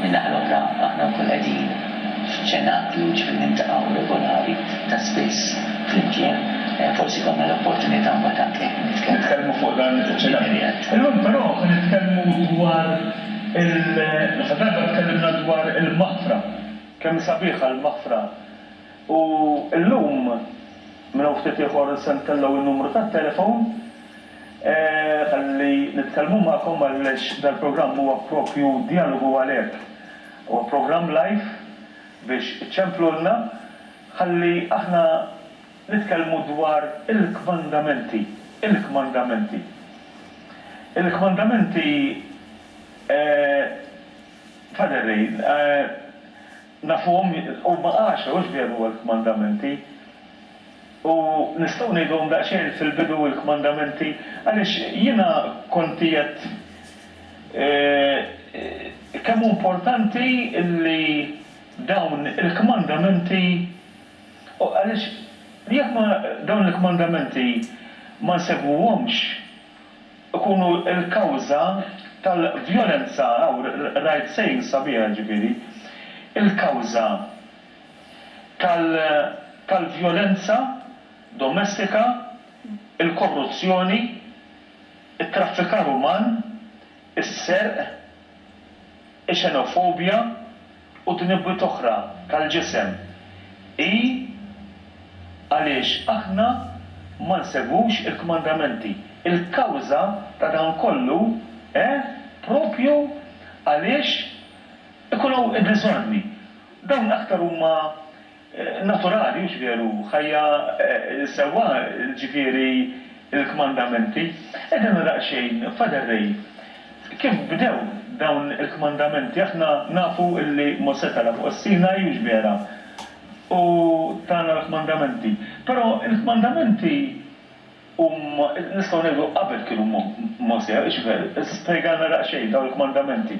Min-naħa l-oħra, aħna nkunu qegħdin f'ċenaklu, ġifieri niltaqgħu regolari, ta' spiss, flimkien, forsi jkollna l-opportunità mbagħad anke nitkellmu. Nitkellmu fuq dan iċ-ċenaklu. Illum però se nitkellmu dwar il. L-aħħar darba tkellimna dwar il-maħfra. Kemm hi sabiħa l-maħfra. U llum, minn hawn ftit ieħor se ntellgħu n-numru tat-telefon ħalli nitkellmu magħkom għaliex dal-programm huwa proprju djalogu għalhekk. Huwa programm live biex iċċemplulna ħalli aħna nitkellmu dwar il-kmandamenti, il-kmandamenti. Il-kmandamenti, Father Ray, Nafuhom, huma għaxra, hux veru huwa l-kmandamenti? U nistgħu ngħiduhom daqsxejn fil-bidu l-kmandamenti? Għaliex jiena kont qiegħed kemm hu importanti li dawn il-kmandamenti, għaliex jekk ma dawn il-kmandamenti ma nsegwuhomx, ikunu l-kawża tal-vjolenza, hawn rajt saying sabiħ, jiġifieri, il-kawża tal-vjolenza domestika, il-korruzzjoni, it-traffikar uman, is-serq, ix-xenofobja, u tnibwiet oħra tal-ġisem, hi għaliex aħna ma nsegwux il-kmandamenti. Il-kawża ta' dan kollu hi proprju għaliex ikun hawn id-diżordni. Dawn aktar huma naturali, hux veru? Ħajja sewwa, ġifieri l-kmandamenti. Qiegħda nara xejn, Father Ray, kif bdew dawn il-kmandamenti. Aħna nafu li Mosè tela' fuq is-Sinaj, hux vera? U tana l-kmandamenti. Però l-kmandamenti. U nistgħu ngħidu, qabel kienu Mosè, x'ver, spjegalna daqsxejn dawn il-kmandamenti.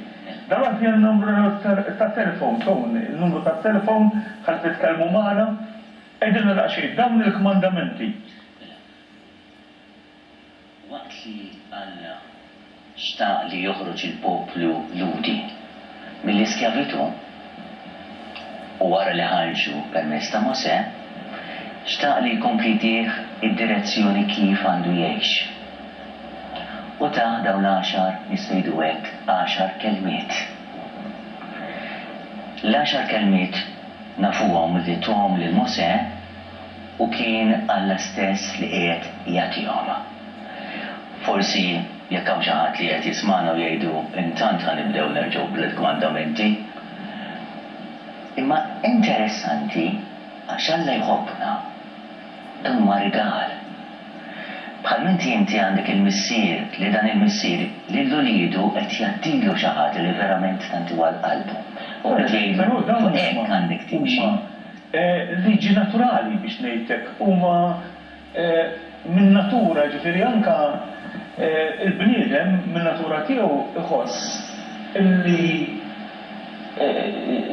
Dan hu fih n-numru tat-telefon, Tony, in-numru tat-telefon ħalli titkellmu magħna. Għidilna daqsxejn dawn il-kmandamenti. Waqt li Alla. xtaq li joħroġ il-poplu Lhudi mill-iskjavitù u wara li ħarġu permezz ta' Mosè, xtaq li jkompli jtih id-direzzjoni kif għandu jgħix. U tah dawn l-għaxar, nista' ngħidu hekk, għaxar kelmiet. L-għaxar kelmiet nafuhom li tuhom lil Mosè. U kien Alla stess li qiegħed jagħtihom. Forsi jekk hawn xi ħadd li qiegħed jismagħna u jgħidu, intant ħa nibdew nerġgħu bl-Għid Kmandamenti. Imma interessanti għax Alla jħobbna. Dan huwa rigal. Bħalminti inti għandek il-missier li dan il-missier lil uliedu qed jgħaddilu xi ħaġa li verament tant huwa għal qalbu. U qed jgħidlu, fuq hekk għandek timxi. liġi naturali biex ngħid hekk, huma min-natura, jiġifieri anke l-bniedem min-natura tiegħu jħoss li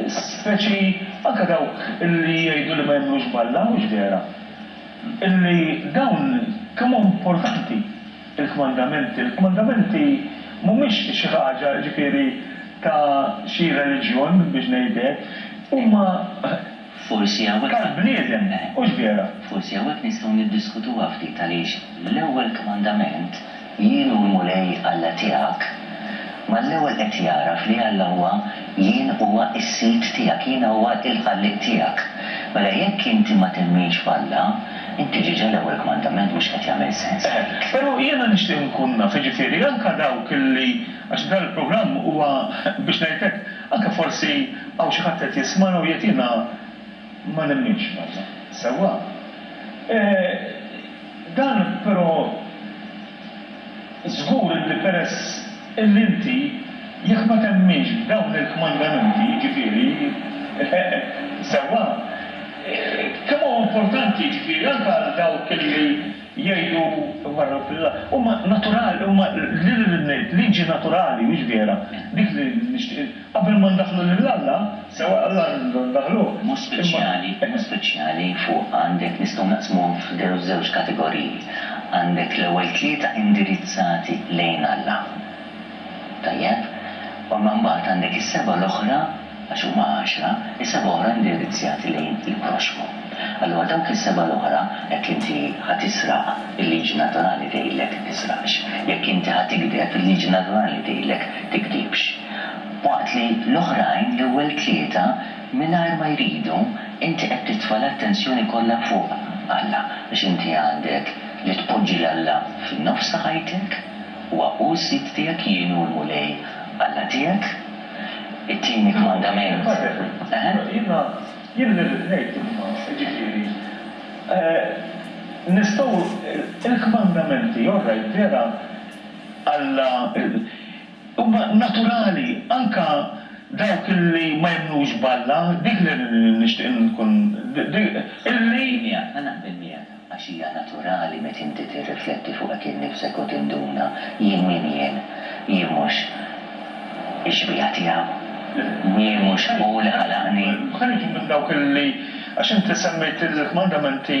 speċi, anke dawk li jgħidu li ma jemmnux b'Alla, mhux vera? li dawn kemm hu importanti. Il-kmandamenti, il-kmandamenti mhumiex xi ħaġa, jiġifieri, ta' xi reliġjon, biex ngħid hekk, huma tal-bniedem, hux vera? Forsi hawnhekk nistgħu niddiskutuha ftit għaliex l-ewwel kmandament, Jien hu l-Mulej Alla tiegħek, mal-ewwel qed jagħraf li Alla huwa Jien huwa s-Sid tiegħek, Jiena huwa l-Ħallieq tiegħek. Mela jekk inti ma temminx f'Alla, Inti ġiġa l-ewwel kmandament mhux qed jagħmel sens għalik. Pero jiena nixtieq nkun naf, jiġifieri anka dawk li, għax dan il-programm huwa biex ngħid hekk, anka forsi hawn xi ħadd qed jismana u jgħid jiena ma nemminx f'Alla. Sewwa. Dan pero Żgur li peress illi inti, jekk ma temminx b'dawn il-kmandamenti, jiġifieri, sewwa, kemm hu importanti, jiġifieri, anke għal dawk illi jgħidu, marru fil-, huma naturali, huma, liġi naturali, mhix vera, dik li nixtieq, Qabel ma ndaħħlu lil Alla, sewa Alla rridu ndaħħluh, imma. Mod speċjali, fuq għandek nistgħu naqsmuhom f'żewġ kategoriji. Għandek l-ewwel tlieta indirizzati lejn Alla. Tajjeb? U imma mbagħad għandek is-sebgħa l-oħra, għax huma għaxra, is-sebgħa oħra indirizzjati lejn il-proxxmu. Allura dawk is-sebgħa l-oħra, jekk inti ħa tisraq, il-liġi naturali tgħidlek tisraqx. Jekk inti ħa tigdeb, il-liġi naturali tgħidlek tigdibx. waqt li l-oħrajn l-ewwel tlieta mingħajr ma jridu inti qed titfa' l-attenzjoni kollha fuq Alla għax inti għandek li tpoġġi 'l Alla fin-nofs ta' ħajtek, huwa hu s-Sid tiegħek, jien hu l-Mulej Alla tiegħek. It-tieni kmandament. Tajjeb, però jiena jien li rrid ngħid imma jiġifieri nistgħu il-kmandamenti all right vera Alla, Huma naturali, anke dawk li ma jemmnux b'Alla, dik li nixtieq inkun, illi. Naqbel miegħek, ma naqbel miegħek, għax hija naturali meta inti tirrifletti fuq hekk innifsek u tinduna, jien min jien? Jien mhux ix-xbieha tiegħu? Jien mhux hu li ħalaqni? Ħa nieħdu minn dawk li, għax inti semmejt il-kmandamenti.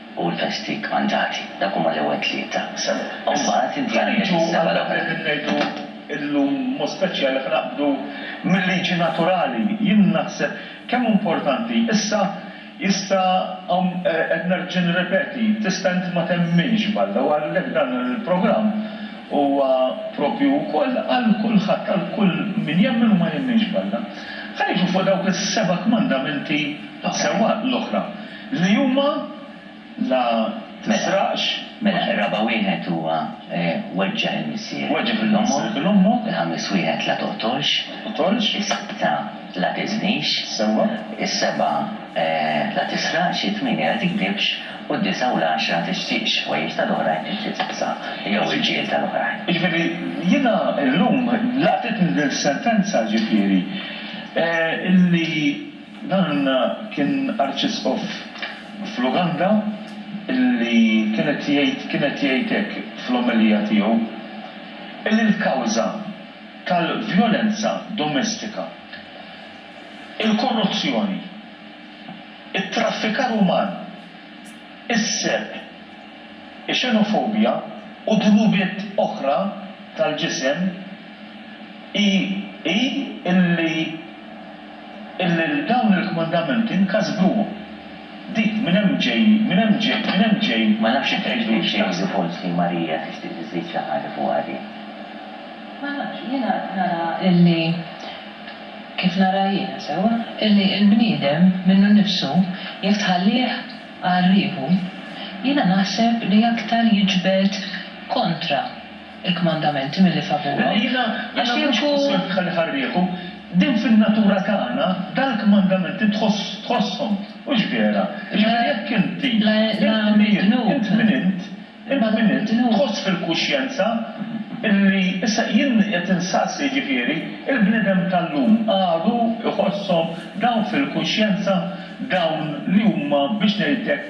u l-festi kmandati. Dak huma l-ewwel tlieta. U mbagħad inti għandek is-seba' l-oħra. Ħanejdu għal dak li qed ngħidu illum b'mod speċjali ħa naqbdu mil-liġi naturali. Jien naħseb kemm hu importanti. Issa jista' hawn qed nerġa' nirrepeti, tista' inti ma temminx b'Alla u għalhekk dan il-programm huwa proprju wkoll għal kulħadd, għal kull min jemmen u ma jemminx b'Alla. Ħa niġu fuq dawk is-seba' kmandamenti sewwa l-oħra. Li huma la tisraqx. Mela, ir-raba' wieħed huwa weġġa' il-missier bil-ommu. Il-ħamis wieħed la toqtolx. Is-sitta la tiżnix. Is-sebgħa la tisraqx. It-tmienja la tikdibx. U d-disgħa u l-għaxra la tixtieqx ħwejjeġ ta' l-oħrajn jew xi tibsa jew irġiel ta' l-oħrajn. Jiġifieri, jiena llum laqtitni din is-sentenza, jiġifieri, li. Dan kien Arċisqof fl-Uganda li kien qed jgħid kien qed jgħid hekk fl-omelija tiegħu li l-kawża tal-vjolenza domestika, il-korruzzjoni, it-traffikar uman, is-serq, ix-xenofobja u dnubiet oħra tal-ġisem hi hi li Illi dawn il-kmandamenti nkasbuhom. Di, minn hemm ġej, minn hemm ġej, minn hemm ġej. Ma nafx jekk tgħidlix xi ħaġa. Jidhru forsi li Marija tixtieq tiżżid xi ħaġa fuqha di. Ma nafx, jiena nara illi, kif nara jiena sewwa, illi l-bniedem minnu nnifsu jekk tħallih għal rieħu, jiena naħseb li aktar jiġbed kontra. il-kmandamenti milli favurom, għax inkunu. Din fin-natura tagħna, dal-kmandamenti tħoss, tħosshom, hux vera? Jiġifieri jekk inti, int min int, int min int, int min int, tħoss fil-kuxjenza illi, issa jien qed insaqsi jiġifieri, il-bniedem tal-lum għadu jħosshom dawn fil-kuxjenza, dawn li huma biex ngħidlek,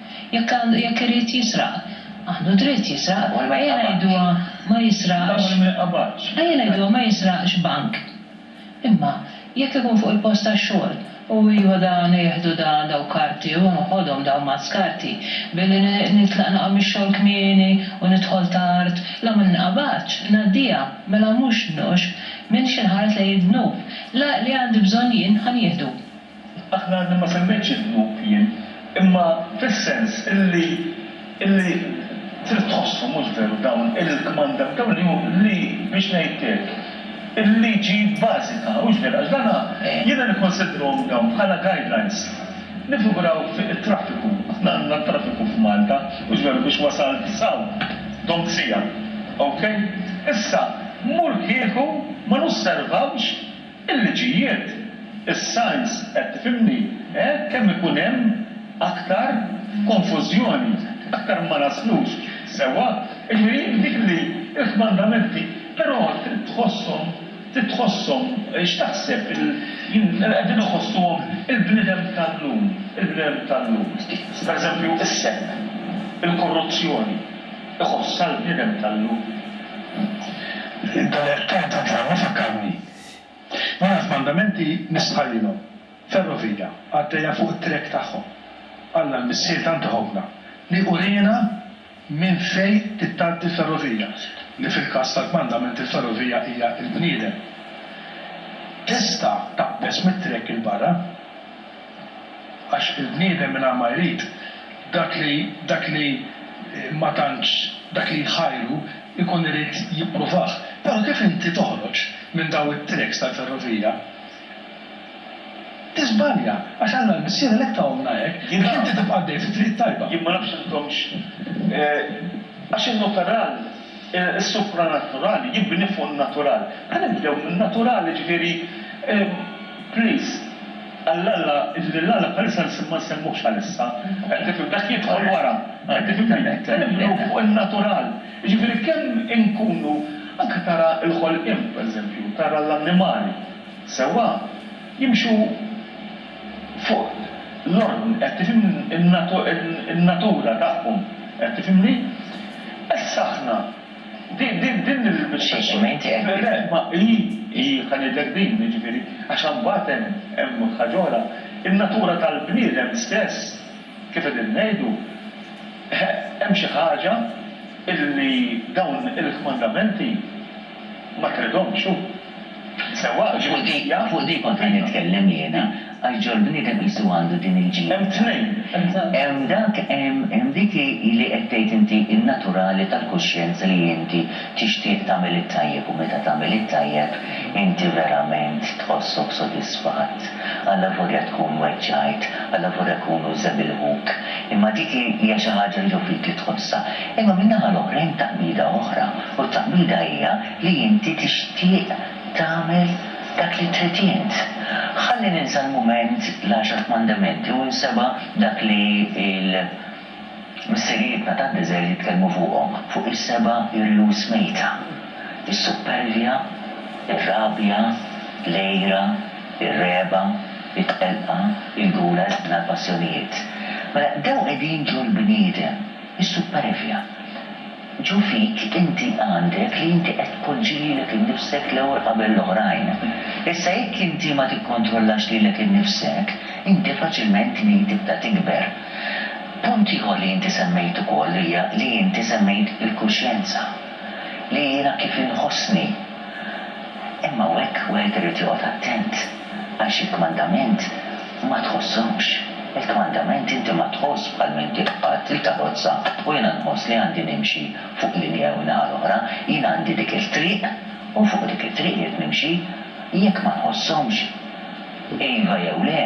Jekk għandu jekk irid jisraq, għandu dritt jisraq. Ejja ngħiduha ma jisraqx ejja ngħiduha ma jisraqx bank. Imma jekk ikun fuq il-post tax-xogħol u iva dan jieħdu dan dawn karti u noħodhom dawn ma' skarti billi nitlaq naqa' mix-xogħol kmieni u nidħol tard, la ma ninqabadx, ngħaddiha, mela mhux dnub. M'iniex inħares lejn id-dnub. L-għaqli għandi bżonn jien ħa nieħdu. Aħna għadni ma semmejtx id-dnub jien, imma fis-sens illi, illi trid tħosshom, mhux veru, dawn il-kmanda, dawn li hu, li, biex ngħidlek, il-liġi bażika, hux veru, għax dana, jiena nikkunsidrhom dawn bħala guidelines. Niffiguraw fi it-traffiku, aħna għandna t-traffiku f'Malta, hux veru, biex wasalt s'hawn, domt siegħa. Okay? Issa, mur kieku ma nosservawx, Il-liġijiet, is-science qed tifhimni, eh? Kemm ikun hemm aktar konfużjoni, aktar ma naslux sewwa. Jiġifieri dik li l-kmandamenti, però trid tħosshom, trid tħosshom, x'taħseb, qegħdin iħossuhom il-bniedem tal-lum, il-bniedem tal-lum, pereżempju s-serq, il-korruzzjoni. Iħoss sal-bniedem tal-lum. Dal-għerf ta' Għajn tad-Dlam ifakkarni. Jiena f'mandamenti nistħallilhom. Ferrovija għaddejja fuq it-trek tagħhom. Alla l-Missier tant iħobbna li uriena minn fejn trid tgħaddi l-ferrovija, li fil-każ tal-kmandament il-ferrovija hija l-bniedem. Tista' taqbeż mit-trek 'il barra. Għax il-bniedem mingħajr ma jrid, dak li, dak li ma tantx, dak li jħajru, ikun irid jippruvah. Però kif inti toħroġ minn dawn it-tracks tal-ferrovija, tiżbalja, għax Alla l-Missier għalhekk tahomlna hekk, biex inti tibqa' għaddej fit-triq it-tajba. Jien ma nafx intomx, għax inhu ferran. Is-supranaturali jibni fuq in-natural. Ħa nibdew min-natural, jiġifieri, please, għal Alla, jiġifieri lil Alla bħalissa ma nsemmuhx għalissa, tifhem, dak jidħol wara, tifhimni, ħa nibnu fuq in-natural, jiġifieri kemm inkunu, anke tara l-ħolqien, pereżempju, tara l-annimali, sewwa, jimxu Fuq l-ordni, qed tifhimni, in-natura tagħhom, qed tifhimni? Issa aħna, din, din, din il-, Xi, xi, xi, ma inti qed, le, le, ma hi, hi, ħa ngħidlek din, jiġifieri, għax imbagħad hemm, hemm ħaġa oħra, in-natura tal-bniedem stess, kif qegħdin ngħidu, hemm xi ħaġa illi dawn il-kmandamenti, Ma tridhomx hu. Sewwa għax fuq di, fuq di kont qed nitkellem jiena, għax ġo l-bniedem qisu għandu din il-ġid. Hemm tnejn, hemm ta'. Hemm dak, hemm, hemm dik li qed tgħid inti in-naturali tal-kuxjenza li inti tixtieq tagħmel it-tajjeb u meta tagħmel it-tajjeb inti verament tħossok sodisfatt. Allavolja tkun weġġajt, allavolja jkunu żebilħuk, imma dik hija xi ħaġa li ġo fik li tħossha. Imma min-naħa l-oħra hemm taqbida oħra, u t-taqbida hija li inti tixtieq tagħmel dak li trid int. Ħalli ninsa l-mument l-Għaxar Kmandamenti u nseba' dak li l-missirijietna tad-deżert jitkellmu fuqhom, fuq is-seba' irjus mejta, is-suppervja, ir-rabja, l-għira, ir-regħba, it-telqa, il-gula, il-ħna, l-passjonijiet. Mela, dawn qegħdin ġol-bniedem. Is-supperevja. Ġo fik inti għandek li inti qed tpoġġi lilek innifsek l-ewwel qabel l-oħrajn. Issa jekk inti ma tikkontrollax lilek innifsek, inti faċilment tmil tibda tikber. Punt ieħor li inti semmejt ukoll hija li inti semmejt il-kuxjenza. Li jiena kif inħossni. Imma hawnhekk wieħed irid joqgħod attent. Għax il-kmandament ma tħossokx. Il-kmandament inti ma tħoss bħal minn dik qatt li taħossha u jiena nħoss li għandi nimxi fuq linja jew naħa l-oħra. Jiena għandi dik it-triq u fuq dik it-triq irrid nimxi. Jekk ma nħosshomx, iva jew le,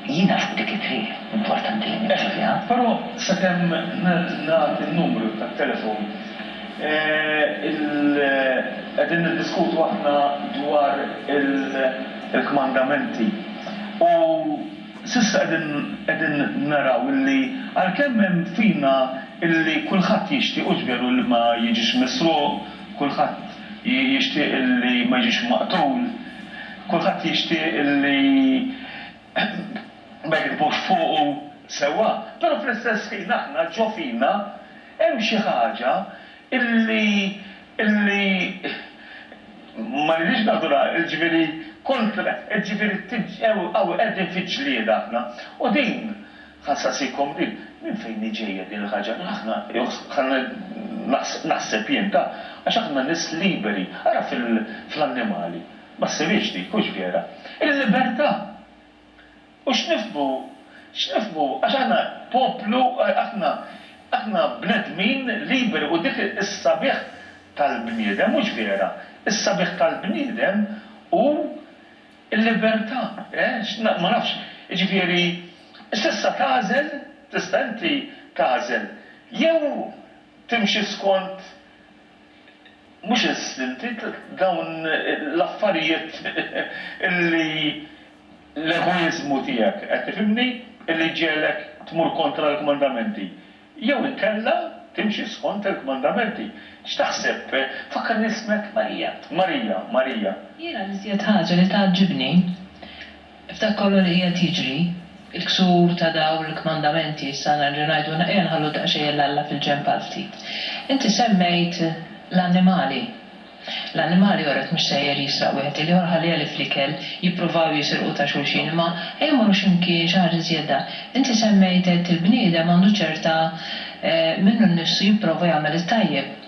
jiena fuq dik it-triq importanti li nimxi fiha. Però sakemm nagħti n-numru tat-telefon Qegħdin niddiskutu aħna dwar il-kmandamenti u s'issa qegħdin qegħdin naraw illi għalkemm hemm fina illi kulħadd jixtieq hux veru illi ma jiġix misruq, kulħadd jixtieq illi ma jiġix maqtul, kulħadd jixtieq illi ma jigdbux fuqu sewwa, però fl-istess ħin aħna ġo fina Hemm xi ħaġa illi, illi, ma rridix naħdulha, jiġifieri kontra, jiġifieri hawn qegħdin fi ġlieda aħna. U din, ħa nsaqsikom din, minn fejn hi ġejja din il-ħaġa li aħna, naħseb jien, ta, għax aħna nies liberi. Ara fl-annimali, ma ssirix dik, hux vera? Il-libertà! U x'nifhmu, x'nifhmu, għax aħna poplu, aħna, aħna bnedmin liberi u dik is-sabiħ tal-bniedem, mhux vera? Is-sabiħ tal-bniedem hu l-libertà, eh? Ma nafx, jiġifieri, s'issa tagħżel, tista' inti tagħżel jew timxi skont, mhux eżistenti, dawn l-affarijiet li l-egoiżmu tiegħek, qed tifhimni, li jġegħlek tmur kontra l-kmandamenti. Jew inkella timxi skont il-kmandamenti. X'taħseb? Fakkarni ismek? Marija. Marija. Marija. Jiena l-iżjed ħaġa li tgħaġġibni F'dak kollu li qiegħed jiġri, il-ksur ta' dawn il-kmandamenti, issa nerġa' ngħidu, ejja nħallu daqsxejn lil Alla fil-ġenb għal ftit. Inti semmejt l-annimali. L-annimali joret mhux sejjer jisraq wieħed il-ieħor, ħalliha li fl-ikel jippruvaw jisirqu ta' xulxin, imma ejja mmorru xi mkien, xi ħaġa żjeda. Inti semmejt għedt il-bniedem għandu ċerta minnu nnifsu jipprova jagħmel it-tajjeb.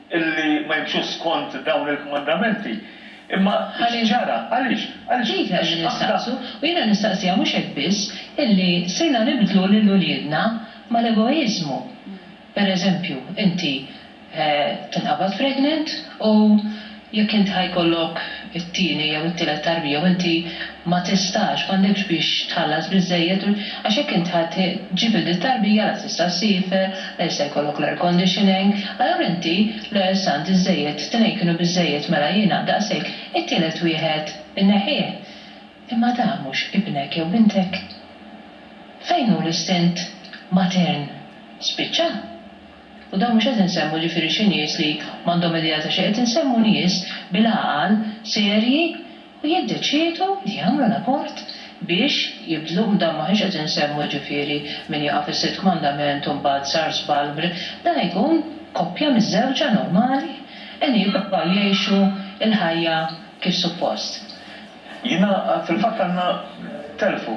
illi ma jimxux skont dawn il-kmandamenti. Imma x'ġara? Għaliex? Għaliex? Dik qed nistaqsu. U jiena nistaqsiha mhux hekk biss, illi sirna nibdlu lil uliedna mal-egoiżmu. Per eżempju, inti tinqabad pregnant u jekk int ħa jkollok it-tieni jew it-tielet tarbija u inti Ma tistax, m'għandekx biex tħallas biżżejjed u għax jekk int ħa ġġib il din tarbija la tista' ssifer, la jista' jkollok l-air conditioning, allura inti l-ewwel sant iżżejjed, t-tnejn kienu biżżejjed mela jiena daqshekk, it-tielet wieħed inneħħih. Imma dan mhux ibnek jew bintek. Fejn hu l-istint matern? Spiċċa. U dan mhux qed insemmu ġifieri xi nies li m'għandhom idea ta' xejn, qed insemmu nies bil-għaqal, serji, u jiddeċiedu li jagħmlu l-abort biex jibdluh, dan m'aħniex qed insemmu jiġifieri min jaqa' fis-Sitt Kmandament u mbagħad sar żball, dan jkun koppja miżżewġa normali qegħdin jippruvaw jgħixu l-ħajja kif suppost. Jiena fil-fatt għandna telfu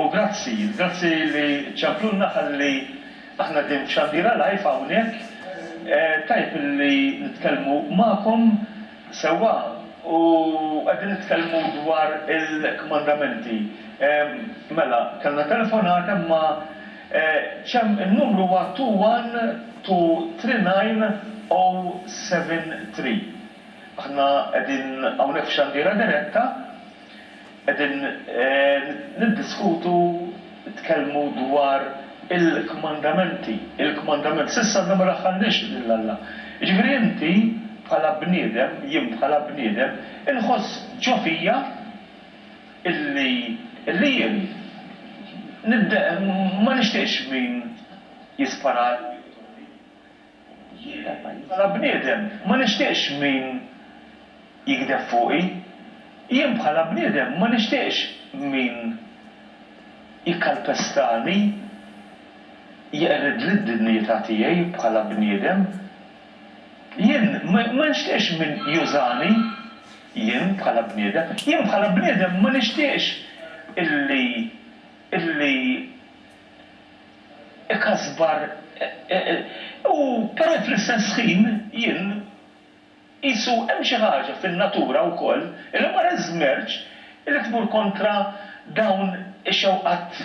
u grazzi, grazzi li ċemplulna ħalli aħna qegħdin f'Xandira Live hawnhekk, tajjeb li nitkellmu magħkom Sewwa, u qegħdin nitkellmu dwar il-kmandamenti. Mela, kellna telefonata imma ċ-ċem, in-numru huwa 2123973. Aħna qegħdin hawnhekk f'xandiera diretta. Qegħdin niddiskutu, nitkellmu dwar il-kmandamenti, il-kmandament. S'issa għadna ma daħħalniex lil Alla. Jiġifieri inti bħala bniedem, jien bħala bniedem, inħoss ġo fija illi, illi jien nidde, ma nixtieqx min jispara għalija jew iżommini. Jiena bħala bniedem ma nixtieqx min jigdeb fuqi. Jien bħala bniedem ma nixtieqx min jikkalpestani, jeqridli d-dinjità tiegħi bħala bniedem. Jien ma nixtieqx min jużani, jien bħala bniedem. Jien bħala bniedem ma nixtieqx illi, illi ikasbar u però fl-istess ħin jien qisu hemm xi ħaġa fin-natura wkoll li wara ż-żmerġ li tmur kontra dawn ix-xewqat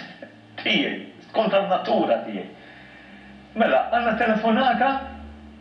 tiegħi, kontra n-natura tiegħi. Mela, għandna telefonata?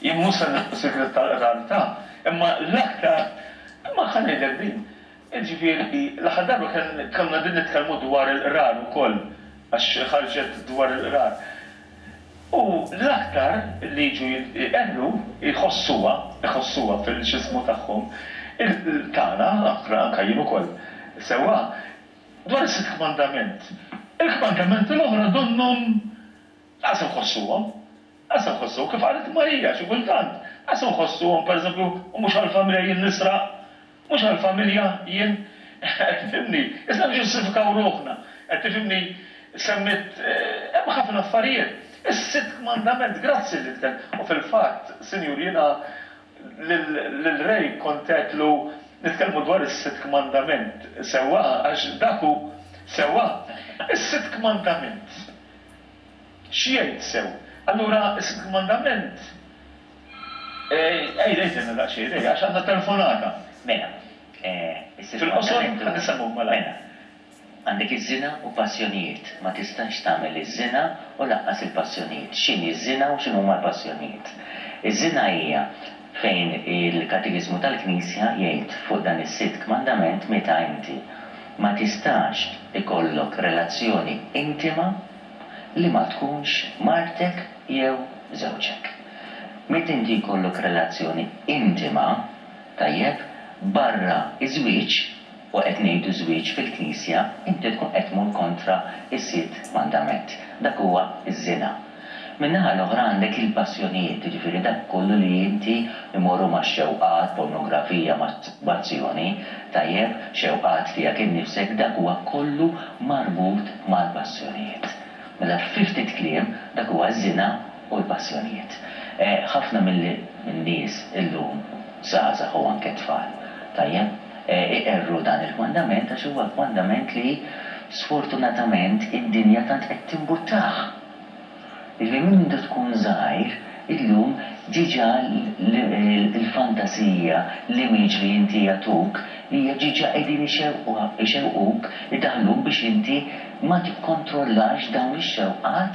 Jien mhux se nagħlaq is-sigriet tal-qrantha, imma l-aktar, imma ħa ngħidlek din, jiġifieri l-aħħar darba kien konna qegħdin nitkellmu dwar il-qrar ukoll, għax ħarġet dwar il-qrar. U l-aktar li jiġu jqerru jħossuha, iħossuha fil-x'ismu tagħhom, tagħna, anke jien ukoll sewwa, dwar is-sitt kmandament. Il-kmandamenti l-oħra donnhom Lanqas inħossuhom. Lanqas inħossuhom. Kif qalet Marija, xi kultant, lanqas inħossuhom, pereżempju, u mhux għall-familja jien nisraq, mhux għall-familja jien, qed tifhimni? Isna niġġustifikaw ruħna, qed tifhimni? Semmiet, hemm ħafna affarijiet. Is-sitt kmandament, grazzi li tkell. U fil-fatt, Sinjur, jiena lil Ray kont għedtlu nitkellmu dwar is-sitt kmandament, sewwa, għax dak hu, sewwa? Is-sitt kmandament. X'jgħid sew? Allura is-sitt mandament Ejja, ejja stenna daqsxejn, ejja, għax għandna telefonata. Mela, is-sitt mandament hu Fil-qosor, ħa nissemgħu malajr. Mela, għandek iż-żina u passjonijiet. Ma tistax tagħmel iż-żina u lanqas il-passjonijiet. X'inhi ż-żina u x'inhuma l-passjonijiet? Iż-żina hija Fejn il-Katekiżmu tal-Knisja jgħid fuq dan is-sitt kmandament meta inti ma tistax ikollok relazzjoni intima li ma tkunx martek jew żewġek. Meta inti jkollok relazzjoni intima, tajjeb, barra ż-żwieġ, u qed ngħidu żwieġ fil-Knisja, inti tkun qed tmur kontra s-sitt mandament. Dak huwa ż-żina. Min-naħa l-oħra għandek il-passjonijiet, jiġifieri dak kollu li inti jmorru max-xewqat, pornografija, masturbazzjoni, tajjeb, xewqat tiegħek innifsek, dak huwa kollu marbut mal-passjonijiet. Mela fi ftit kliem, dak huwa ż-żina. u l-passjonijiet. Ħafna min-nies illum, żgħażagħ u anke tfal, tajjeb, iqerru dan il-kmandament għax huwa kmandament li sfortunatament id-dinja tant qed timbuttah. Jiġifieri minn mindu tkun żgħir illum diġà l-fantasija, l-image li inti jagħtuk hija diġà qegħdin ixewquk, idaħħluk biex inti ma tikkontrollax dawn ix-xewqat,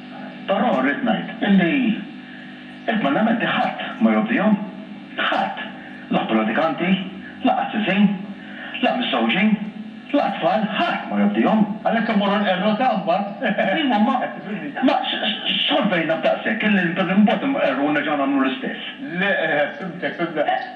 Però rrid ngħid illi l-Kmandamenti ħadd ma jobdihom. Ħadd. La predikanti, la qassisin, la miżżewġin, la tfal, ħadd ma jobdihom. Għalhekk immorru nqerru ta' mbagħad. Ejwa, ma, ma, solvejna b'daqshekk illi imbagħad inqerru u nerġgħu nagħmlu l-istess. Le, fhimtek, fhimtek.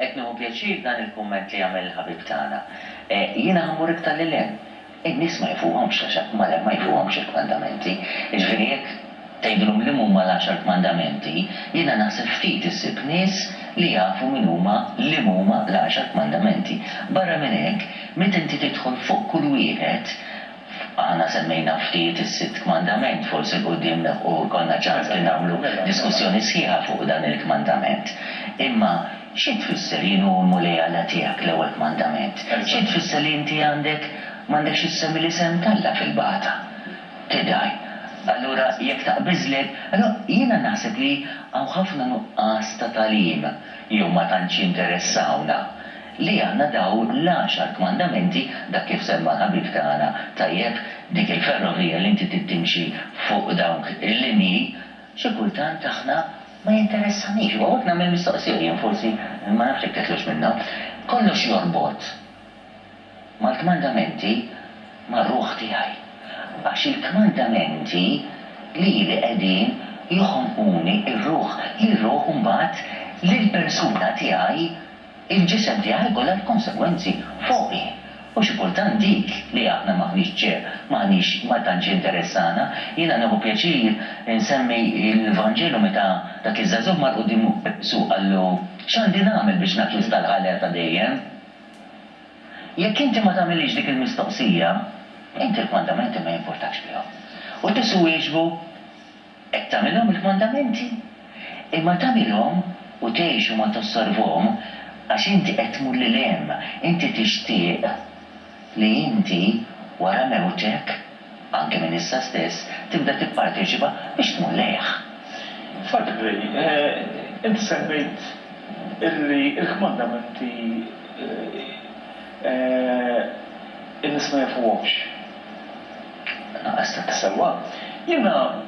Qed nieħu pjaċir f'dan il-kumment li għamel il-ħabib tagħna. Jiena ħa mmur iktar lil hinn. In-nies ma jfuhomx l-għaxar, malajr ma jfuhomx il-kmandamenti. Jiġifieri jekk tgħidilhom li m'huma l-għaxar kmandamenti, jiena naħseb ftit issib nies li jafu min huma, li m'huma l-għaxar kmandamenti. Barra minn hekk, meta inti tidħol fuq kull wieħed, Aħna semmejna ftit is-sitt kmandament, forsi 'l quddiem nilħqu jkollna ċans li nagħmlu diskussjoni sħiħa fuq dan il-kmandament. Imma xi tfisser jien hu l-Mulej Alla tiegħek, l-ewwel kmandament? Xi tfisser li inti għandek m'għandekx issemmi l-isem t'Alla fil-bagħta tidgħi? Allura jekk taqbiżlek, allura jiena naħseb li hawn ħafna nuqqas ta' tagħlim jew ma tantx jinteressawna. li għandna daw l-għaxar kmandamenti, dak kif semma l-ħabib tagħna tajjeb, dik il-ferrovija li inti trid timxi fuq dawk il-linji, xi kultant aħna ma jinteressanix, u hawnhekk nagħmel mistoqsija jien forsi, ma nafx jekk teħloġ minnha, kollox jorbot mal-kmandamenti mar-ruħ tiegħi, għax il-kmandamenti lili qegħdin joħonquni r-ruħ, li r-ruħ imbagħad lill-persuna tiegħi, Il-ġisem tiegħi kollha l-konsegwenzi fuqi. U xi kultant dik li aħna m'aħniex ċer, m'aħniex, ma tantx jinteressana. Jiena nieħu pjaċir insemmi l-Vanġelu meta dak iż-żagħżugħ mar quddiem Ġesù u qallu, X'għandi nagħmel biex nakkwista l-ħajja ta' dejjem? Jekk inti ma tagħmilhiex dik il-mistoqsija, inti l-kmandamenti ma jimpurtakx bihom. U Ġesù wieġbu, Qed tagħmilhom il-kmandamenti, imma tagħmilhom u tgħix u ma tossorvhom, għax inti qed tmur lil hemm, inti tixtieq li inti wara mewtek, anke minn issa stess, tibda tipparteċipa biex tmur lejh. Frati Gray, inti semmejt illi l-kmandamenti in-nies ma jafuhomx. Sewwa, jiena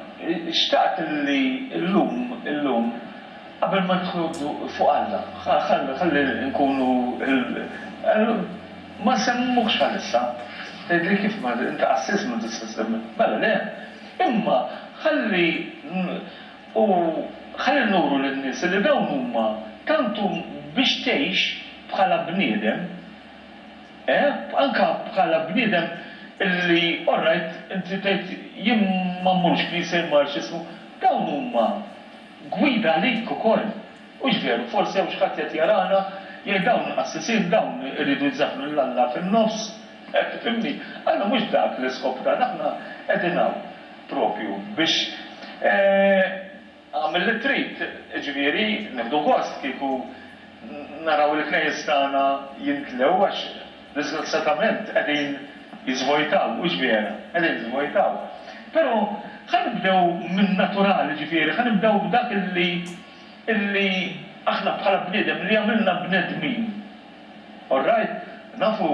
xtaqt li llum, illum, qabel ma nidħlu fuq Alla, ħalli nkunu, ma nsemmuhx bħalissa, tgħidli kif, inti qassis m'intix tista' tsemmi, mela le, imma ħalli, u ħalli nuru lin-nies li dawn huma, tant biex tgħix bħala bniedem, Eh, anka bħala bniedem li orrajt inti tgħid jien ma mmurx knisja jien ma nafx x'ismu, dawn huma gwida għalik ukoll. Hux veru? Forsi hawn xi ħadd qiegħed jarana jgħid dawn qassisin, dawn iridu jżaffnu lil Alla fin-nofs. Eh, tifhimni? Aħna mhux dak l-iskop tagħna, aħna qegħdin hawn proprju biex, eh, Agħmel li trid, jiġifieri nieħdu gost kieku naraw il-knejjes tagħna jimtlew għax diżgrazzjatament qegħdin jiżvojtaw, hux vera? Qegħdin jiżvojtaw. Però ħa nibdew min-naturali, jiġifieri ħa nibdew b'dak li li aħna bħala bniedem li għamilna bnedmin. Orrajt? Nafu,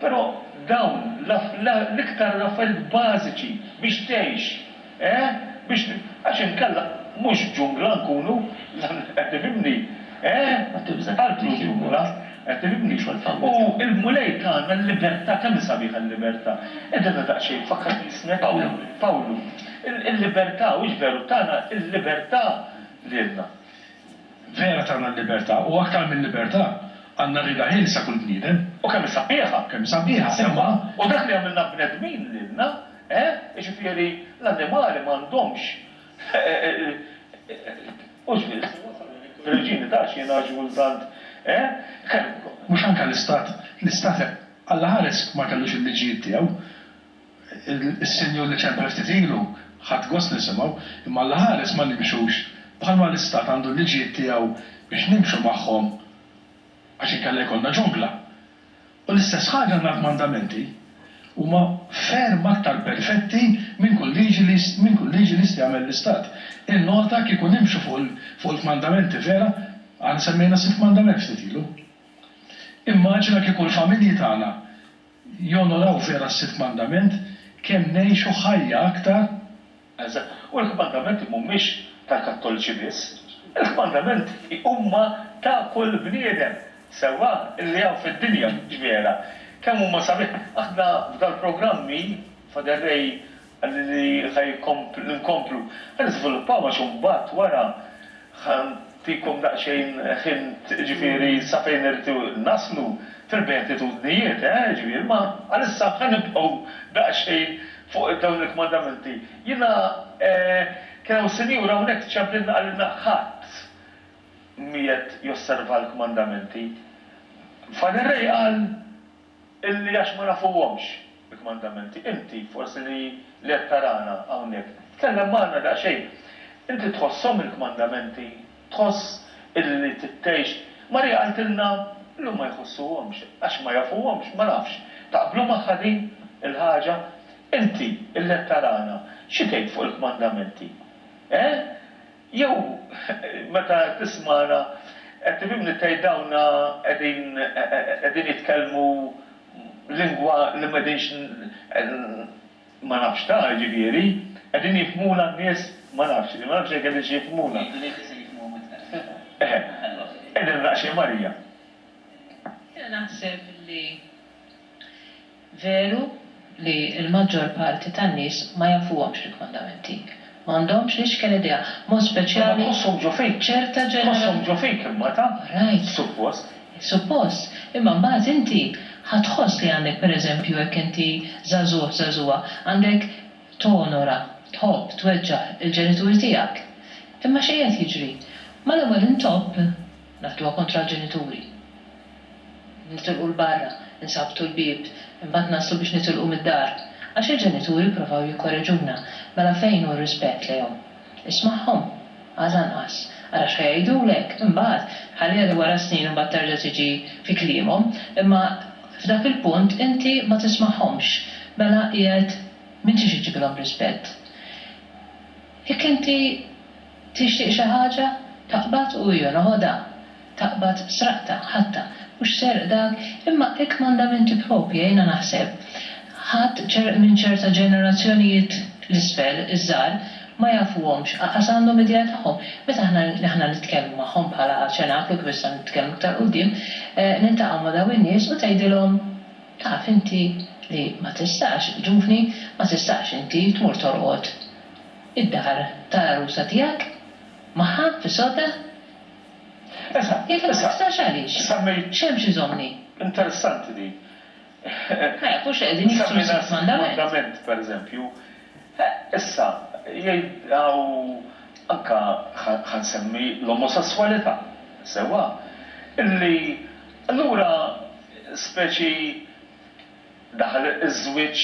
però dawn l-iktar l-affarijiet bażiċi biex tgħix. Eeh? Biex li. Għax inkella mhux ġungla nkunu, qed tifhimni? Eeh? Ma tibża' tgħaddi xi wħud. Qed tifhimni? Xogħol fawwiet. U l-Mulej tagħna l-libertà, kemm hi sabiħa l-libertà. Għidilna daqsxejn, fakkarni ismek. Pawlu. Pawlu. Il-libertà, hux veru, tana l-libertà lilna. Vera tana l-libertà, u aktar mil-libertà, għandna rieda ħielsa kull bniedem. U kemm hi sabiħa. Kemm hi sabiħa, imma. U dak li għamilna bnedmin lilna. Eh? Jiġifieri l-annimali m'għandhomx u żmien se wasal li l-Reġini ta' Xena x'gul tant, eh? Kellu. Mhux anke l-Istat, l-Istat allaħares ma kellux il-liġijiet tiegħu. Is-Sinjur li ċempel ftit ilu ħadt gost nisimgħu, imma allaħares ma nimxux bħalma l-Istat għandu l-liġijiet tiegħu biex nimxu magħhom għax inkella jkollna ġungla. U l-istess ħaġa ngħid mandamenti, huma ferm aktar perfetti minn kull liġi li minn kull liġi li jista' jagħmel l-istat. Innota kieku nimxu fuq il fuq il-kmandamenti vera, aħna semmejna sitt kmandament ftit ilu. Immaġina kieku l-familji tagħna jonoraw vera s-sitt kmandament, kemm ngħixu ħajja aktar, Anzi, u l-kmandamenti mhumiex tal-Kattoliċi biss, il-kmandamenti huma ta' kull bniedem sewwa li hawn fid-dinja, mhux vera? Kemm huma sabiħ! Aħna f'dal-programmi, Father Ray qalli li ħa jkomplu, nkomplu, ħa niżviluppaw għax imbagħad wara, Ħa ntikom daqsxejn hint ġifieri sa fejn irridu naslu fil-beatitudnijiet, eh, ġifieri ma għalissa ħa nibqgħu daqsxejn fuq dawn il-kmandamenti. Jiena, eh, kien hawn sinjura hawnhekk ċemplilna qalilna ħadd m'qiegħed josserva l-kmandamenti. Father Ray qal, Illi għax ma nafuhomx il-kmandamenti, inti, forsi li qed tarana hawnhekk, tkellem magħna daqsxejn. Inti tħosshom il-kmandamenti? Tħoss illi trid tgħix? Marija qaltilna li huma jħossuhomx, għax ma jafuhomx, ma nafx. Taqblu magħha din il-ħaġa? Inti, illi qed tarana, xi tgħid fuq il-kmandamenti? Eh? Jew meta tismagħna qed timimni tgħid dawna qegħdin qegħdin jitkellmu lingwa li m'qegħdinx ma nafx ta' jiġifieri qegħdin jifhmuna n-nies ma nafx ma nafx jekk qegħdinx jifhmuna. Jgħidu li jekk isir jifhmuhom iktar fihom. Eħe. Qegħdin naqxin Marija. Jiena naħseb li Veru li l-maġġor parti tan-nies ma jafuhomx l-kmandamenti. Ma għandhomx l-ixken idea, b'mod speċjali ċerta ġenerazzjoni. Orajt. Suppost. Imma mbagħad inti ħa tħoss li għandek, per eżempju, jekk inti żagħżugħ, żagħżugħa, għandek tonora, tħobb, tweġġaħ il-ġenituri tiegħek. Imma x'qiegħed jiġri? Mal-ewwel intopp Naħduha kontra l-ġenituri. Nitilqu 'l barra, insabtu l-bieb, imbagħad naslu biex nitilqu mid-dar. Għax il-ġenituri jipprovaw jikkoreġuna. Mela fejn hu r-rispett lejhom? Ismagħhom? Għad anqas. Ara x'ħa jgħidulek. Imbagħad, ħalliha li wara s-snin imbagħad terġa' tiġi fi kliemhom. Imma f'dak il-punt inti ma tismagħhomx. Mela qiegħed m'intix iġġibilhom rispett. Jekk inti Tixtieq xi ħaġa? Taqbad u hija noħodha. Taqbad sraqtha, ħadtha. Mhux serq dak? Imma hekk m'għandha min tippropja, jiena naħseb. Ħadd minn ċerta ġenerazzjonijiet 'l isfel, iż-żgħar, ma jafuhomx, aqas għandhom idea tagħhom. Meta aħna, aħna nitkellmu magħhom bħala ċenaklu, kif issa nitkellmu iktar quddiem, niltaqgħu ma' dawn in-nies u tgħidilhom, Taf inti li ma tistax, ġuvni, ma tistax inti tmur torqod. Id-dar tal-għarusa tiegħek magħha fi Sota? Esa. Jekk ma tiksarx għaliex? Semmejt. X'hemm x'iżommni? Interessanti din. Ma jafux li qegħdin jiksru s-sitt mandament. pereżempju. Issa, jgħid hawn anke ħa nsemmi l-omosesswalità, sewwa? Illi allura speċi daħal iż-żwieġ.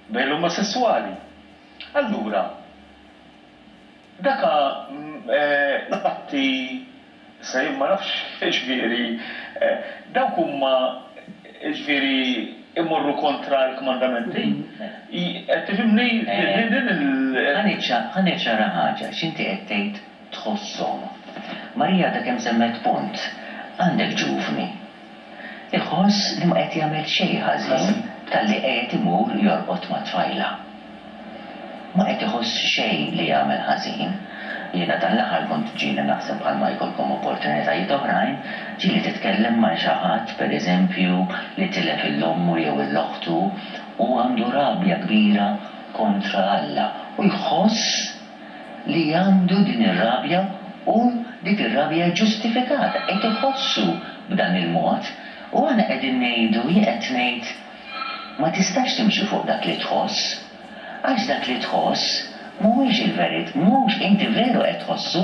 Bejn l-omosesswali. Allura, daka l-atti se jien ma nafx jiġifieri dawk huma jiġifieri jmorru kontra l-kmandamenti. Tifhimni? Ħa niċċaraha ħaġa, x'inti qed tgħid? Tħosshom. Marija għadha kemm semmet punt, Għandek ġuvni. Iħoss li ma qed jagħmel xejn ħażin talli qiegħed imur jorqod ma' tfajla. Ma qed iħoss xejn li jagħmel ħażin. Jiena dan l-aħħar kont ġieli naħseb bħalma jkollkom opportunitajiet oħrajn, ġieli titkellem ma' xi ħadd pereżempju li tilef il-ommu jew il-oħtu u għandu rabja kbira kontra Alla u jħoss, li għandu din ir-rabja u dik ir-rabja hi ġustifikata, qed iħossu b'dan il-mod u aħna qegħdin ngħidu, jien qed ngħid, ma tistax timxi fuq dak li tħoss, għax dak li tħoss mhuwiex il-verit, mhux, inti veru qed tħossu,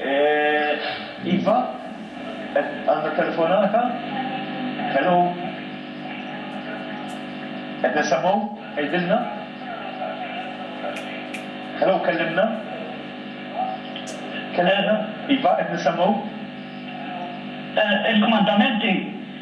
Eehh iva qed għandna telefonata? Hello? Qed nisemgħu? Għidilna? Hello kellimna? Kellimna? Iva qed nisemgħu? Il-kmandamenti.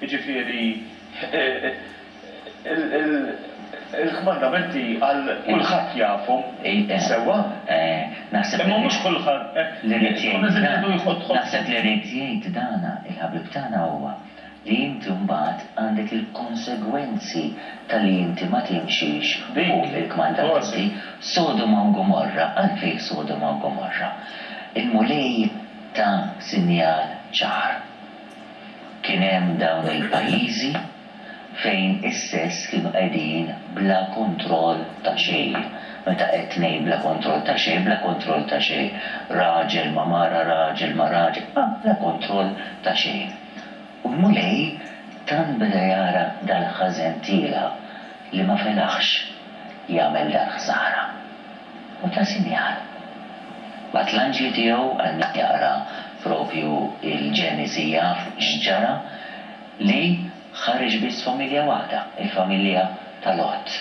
Jiġifieri, il-kmandamenti għal kulħadd jafhom sewwa, imma mhux kulħadd hekk jgħid. Naħseb li ried jgħid dan il-ħabib tagħna huwa li inti mbagħad għandek il-konsegwenzi ta' li inti ma timxix fuq il-kmandamenti. Sodoma u Gomorra, għalfejn Sodoma u Gomorra? Il-Mulej ta sinjal ċar. Kien hemm dawn il-pajjiżi fejn is-sess kienu qegħdin bla kontroll ta' xejn. Meta qed ngħid bla kontroll ta' xejn, bla kontroll ta' xejn. Raġel ma' mara, raġel ma' raġel, ma' bla kontroll ta' xejn. U l-Mulej tant beda jara dal-ħażen tiegħi li ma felaħx jagħmel dal-ħsara. u ta sinjal. Bagħat l-anġli tiegħu għal min jaqra propju l-Ġenesi jaf x'ġara li ħareġ biss familja waħda, il-familja ta' Lot.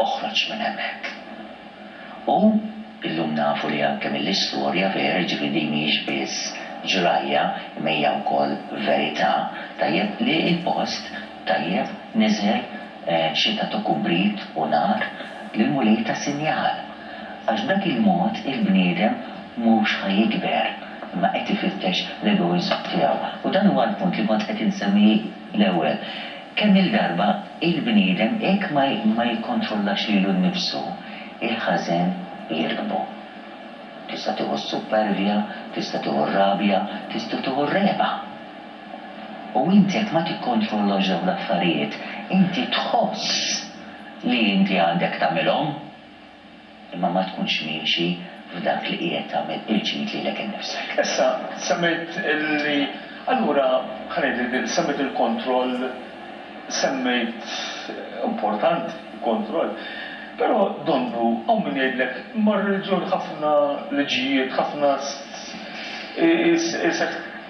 Oħroġ minn hemmhekk. U illum nafu li anke mill-istorja vera, jiġifieri din mhijiex biss ġrajja imma hija wkoll verità, tajjeb li l-post Tajjeb, niżel xita ta' kubrit u nar lill-Mulej ta' sinjal, għax b'dak il-mod il-bniedem mhux ħa jikber, imma qed ifittex l-egoiżmu tiegħu. U dan huwa l-punt li kont qed insemmi l-ewwel. Kemm-il darba il-bniedem hekk ma jikkontrollax lilu nnifsu, il-ħażen jirkbu. Tista' tieħu s-suppervja, tista' tieħu r-rabja, tista' tieħu r-regħba. U inti jekk ma tikkontrollax dawn l-affarijiet, inti tħoss li inti għandek tagħmilhom, imma ma tkunx miexi f'dak li qiegħed tagħmel il-ġid lilek innifsek. Issa, semmejt li, allura, ħa ngħidlek din, semmejt il-kontroll, semmejt, importanti l-kontroll, però donnu hawn min jgħidlek, imma r-reliġjon ħafna liġijiet, ħafna,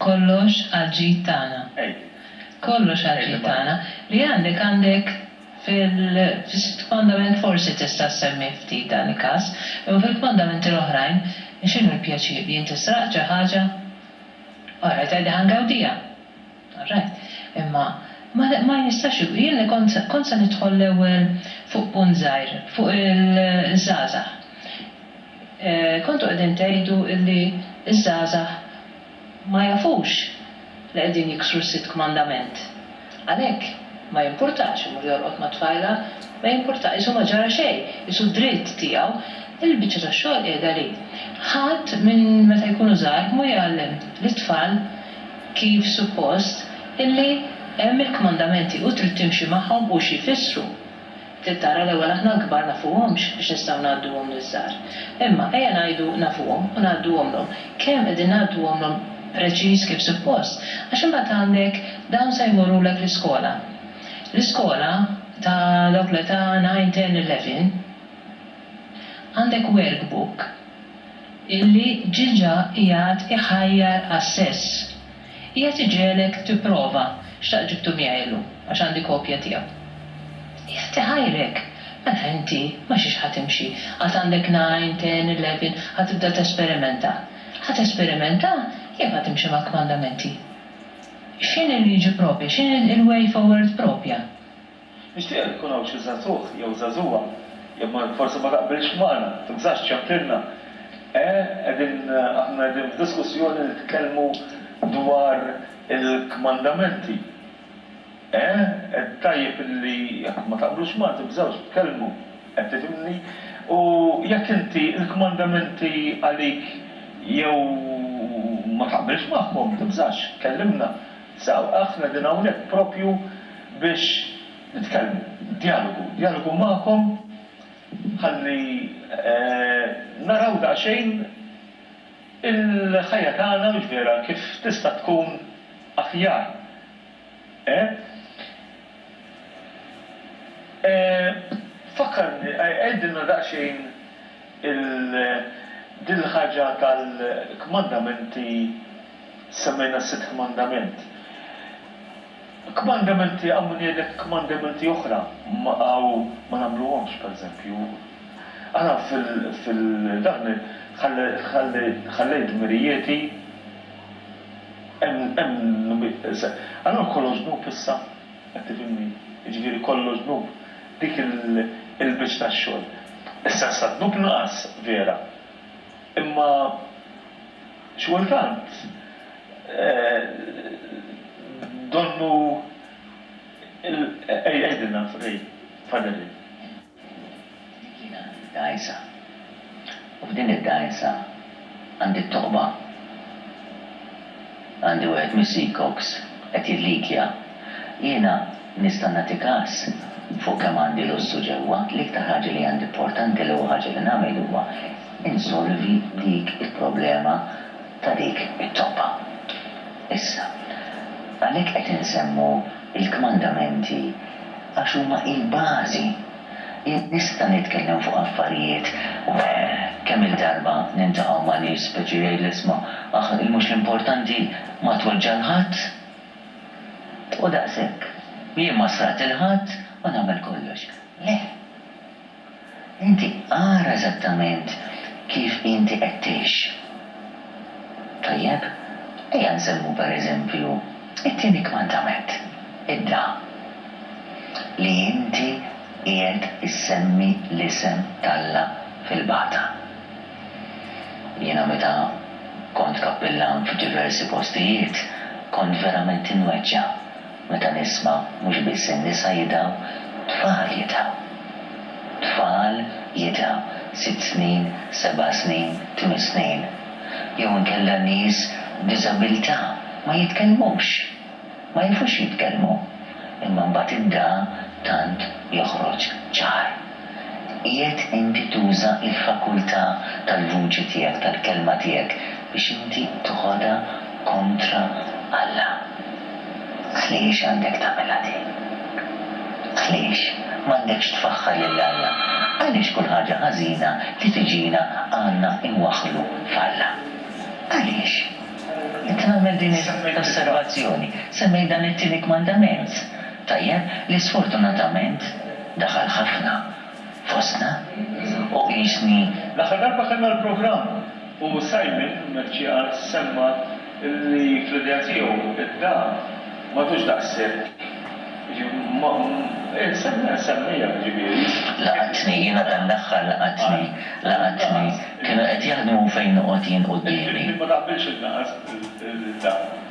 Kollox għall-ġid tagħna. Kollox għall-ġid tagħna. Li għandek għandek fil-fondament forsi tista' ssemmi ftit dan il-każ, imma fil-fondamenti l-oħrajn x'inhu l-pjaċir li inti sraqt xi ħaġa? Orajt għidilha ngawdiha. All right. Imma ma jistax ikun. Jien li kont se, kont se nidħol l-ewwel fuq punt żgħir, fuq il-żgħażagħ. Kontu qegħdin tgħidu illi ż-żgħażagħ ma jafux li qegħdin jiksru s-sitt kmandament. Għalhekk ma jimpurtax imur jorqod mat-tfajla, ma jimpurtax, qisu ma ġara xejn, qisu dritt tiegħu. Il-biċċa tax-xogħol qiegħda li ħadd minn meta jkunu żgħar mhu jgħallem lit-tfal, kif suppost, illi hemm il-kmandamenti u trid timxi magħhom u xi jfissru. Trid tara l-ewwel aħna l-kbar nafuhomx biex nistgħu ngħadduhom liż-żgħar. Imma ejja ngħidu nafuhom u ngħadduhomlhom. Kemm qegħdin ngħadduhomlhom preċiż kif suppost? Għax imbagħad għandek dawn se jmorrulek l-iskola. L-iskola ta' dawk l-età nine, ten, eleven. Għandek workbook illi ġiġa qiegħed iħajjar għas-sess. Qiegħed iġegħlek tipprova x'taq ġibtu miegħi illum għax għandi kopja tiegħu. Qiegħed iħajrek. Mela inti ma' xiex ħa timxi? Għad għandek nine, ten, eleven, ħa tibda tesperimenta? Ħa tesperimenta jew ħa timxi mal-kmandamenti? X'inhi l-liġi proprja? X'inhi l-way forward proprja? Nixtieqek ikun hawn xi żagħżugħ jew żagħżugħa, jekk ma forsi ma taqbilx magħna, tibżax ċċempilna. Eh, qegħdin, aħna qegħdin f'diskussjoni nitkellmu dwar il-kmandamenti. Eh, tajjeb li jekk ma taqblux magħna tibżawx tkellmu, qed tifhimni? U jekk inti l-kmandamenti għalik jew ma taqbilx magħhom, tibżax, kellimna. Saw, aħna qegħdin hawnhekk proprju biex nitkellmu, djalogu, djalogu magħkom ħalli naraw daqsxejn il-ħajja tagħna, mhux vera, kif tista' tkun aħjar. E? E, fakkarni, għidilna daqsxejn, Il din il-ħaġa tal-kmandamenti semmejna s-sitt kmandament. Kmandamenti hawn min jgħidlek kmandamenti oħra ma hawn ma nagħmluhomx pereżempju. Aħna fil fil dan ħall ħalli ħallejt dmirijieti hemm hemm allura kollox dnub issa? Qed tifhimni? Jiġifieri kollox dnub. Dik il-biċċ tax-xogħol. Issa issa d-dnub naqas, vera. Imma xi kultant donnu l-. Għidilna, Ray, Father Ray. Għalik jien għandi d-dgħajsa, u f'din id-dgħajsa għandi t-toqba. Għandi wieħed mis-seacocks qed jillikja. Jiena nista' nagħti kas fuq kemm għandi lussu ġewwa, l-iktar ħaġa li għandi importanti, l-ewwel ħaġa li nagħmel huwa insolvi dik il-problema ta' dik it-toqba. Issa, għalhekk qed insemmu l-kmandamenti għax huma l-bażi. Jien nista' nitkellem fuq affarijiet u kemm-il darba niltaqgħu ma' nies speċi jgħidli isma' aħ il-mhux l-importanti ma tweġġa' 'l ħadd. U daqshekk. Jien ma sraqt 'il ħadd u nagħmel kollox. Le! Inti ara eżattament kif inti qed tgħix. Tajjeb, ejja nsemmu per eżempju t-tieni kmandament, idda, li inti qiegħed issemmi l-isem t'Alla fil-bata. Jiena meta kont kappillan f'diversi postijiet kont verament inweġġa' Meta nisma' mhux biss in-nisa jidgħu, tfal jidgħu. Tfal jidgħu, sitt snin, seba' snin, tmien snin. Jew inkella nies b'diżabilità ma jitkellmux, ma jafux jitkellmu, imma mbagħad id-dagħa tant joħroġ ċar. Qiegħed inti tuża l-fakultà tal-vuċi tiegħek, tal-kelma tiegħek, biex inti tħodha kontra Alla. Għaliex għandek tagħmilha din? Għaliex m'għandekx tfaħħar lil Alla? Għaliex kull ħaġa ħażina li tiġina għandna nwaħħlu f'Alla? Għaliex? Inti tagħmel din l-osservazzjoni, semmejt dan it-tieni kmandament, tajjeb, li sfortunatament, Daħal ħafna fostna u qisni. L-aħħar darba kellna l-programm u Simon Mercieca semma li fl-idea tiegħu d-dam m'għadux daqshekk, jiġifieri nsemmija jiġifieri. Laqatni, jiena dan l-aħħar laqatni, laqatni, kienu qed jaħdmu fejn noqgħod jien quddiemi. Il-kliem ma taqbilx il-naqas, il-dam.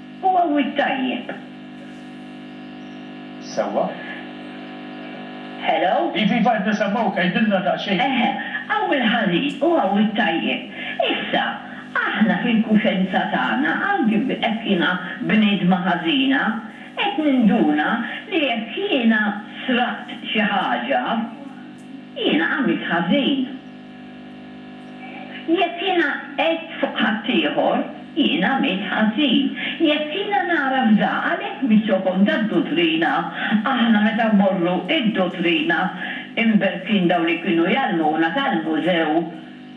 Hu għawwid tajjeb. Sewwa? Hello? Iva, iva, qed nisemgħuk, għidilna daqsxejn. Eħe, hawn il-ħażin u hawn it-tajjeb. Issa, aħna fil-kuxenza tagħna, anki hekk jiena bniedma ħażina, qed ninduna li jekk jiena sraqt xi ħaġa, jiena għamilt ħażin. Jekk jiena għedt fuq ħaddieħor, jien għamilt ħażin. Jekk jiena nagħraf da, għalhekk bix-xokom tad-duttrina, aħna meta mmorru id-duttrina, imberkin dawn li kienu jgħallmuna tgħallmu sew.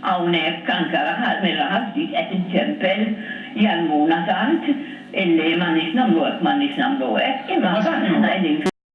Hawnhekk anke mir-raħal ftit qed inċempel, jgħallmuna tant illi m'għandniex nagħmlu hekk, m'għandniex nagħmlu hekk, imma mbagħad aħna qegħdin.